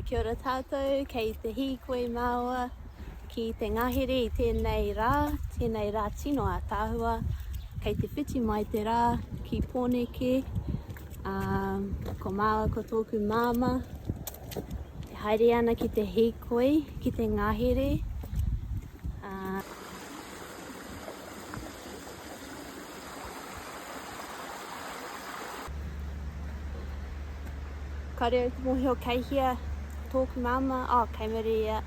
Kia ora tātou, kei te hīkoi māua ki te ngahere i tēnei rā, tēnei rā tino ātaahua, kei te whiti mai te rā ki Pōneke, ko māua ko tōku māma, e haere ana ki te hīkoi, ki te ngahere. Kāre au te mōhio kei hea tōku māmā, oh kei muri ia,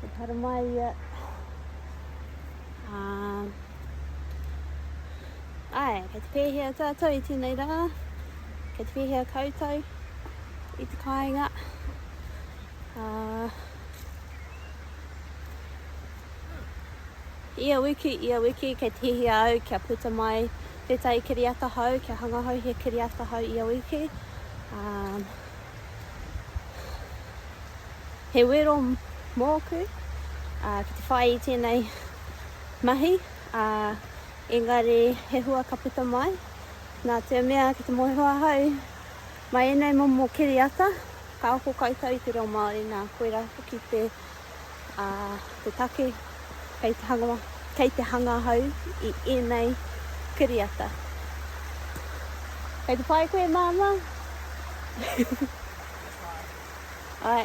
kei Taramae ia. Um, ai, kei te pēhea tātou i tēnei rā, kei te pēhea koutou i te kāinga. Uh, Ia wiki, ia wiki, kei te hihia au kia puta mai tētahi kiriata hou, kia hangahau he kiriata hou ia wiki. Um, he wero mōku uh, ki te whai i tēnei mahi, uh, engari he hua ka puta mai. Nā te mea ki te moe hoa hau, Mai ēnei momo kiriata, ka ako koutou i te reo Māori nā koirā hoki te take kei te hanga hau i ēnei kiriata. Kei te pai koe māmā? Āe.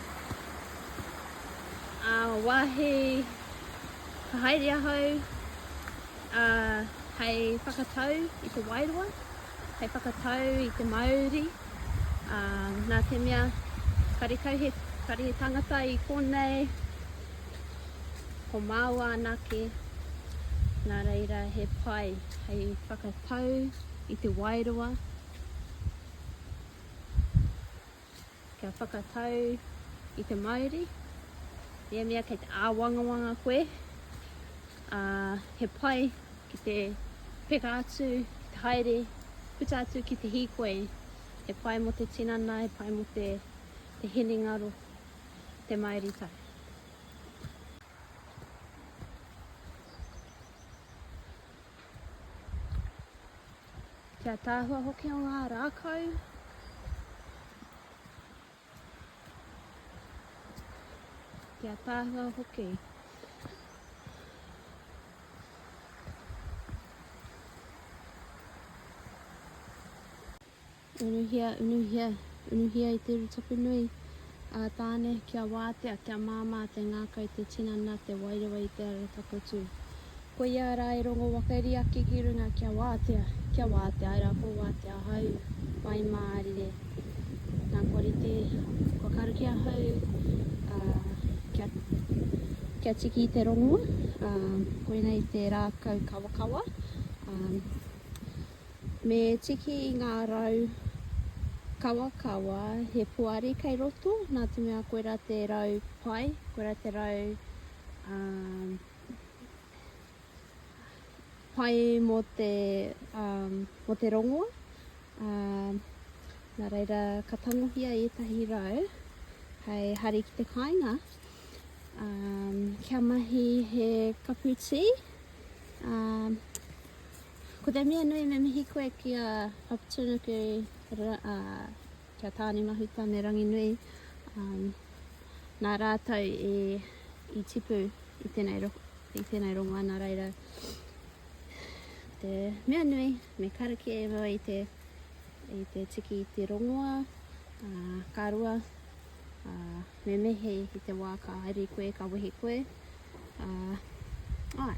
ā, wāhi ka haere ahau ā, hei whakatau i te wairua, hei whakatau i te mauri ā, nā te mea karekau he, kare he tangata i konei ko māua anake, nā reira he pai hei whakatau i te wairua. kia whakatau i te Māori, ia mea kei te āwangawanga koe, ā, he pai ki te peka atu, ki te haere, puta atu ki te hīkoi, he pai mō te tinana, he pai mō te, te hinengaro, te Māoritai. Ki ataahua hoki o ngā rākau. Ki ataahua hoki. Unuhia, unuhia, unuhia i te uru tapu nui a Tāne kia wātea, kia māmā te ngākau, te tinana, te wairua i te ara takotū. Koia rā e rongo wakairi ake ki runga kia wātea, kia wātea, ērā kua wātea ahau, whai mārire. Nā kua rite, kua karu ki ahau, ā, kia, kia tiki i te rongoa, ā, koinei te rākau kawakawa, ā, Me tiki i ngā rau kawakawa he poari kei roto, nā te mea koe rā te rau pai, koe rā te rau pai mō te, mō te rongoa. Nā reira ka tangohia ētahi rau hei hari ki te kāinga kia mahi he kapu tī. Ko te mea nui me mihi koe ki a Opportunity ki a Tāne Mahuta me Ranginui nā rātou i tipu i tēnei rongoa nā reira te mea nui me karakia e mua i te i te tiki i te rongoa uh, ka rua uh, me mehe i te wā ka haere koe, ka wehe koe uh, ai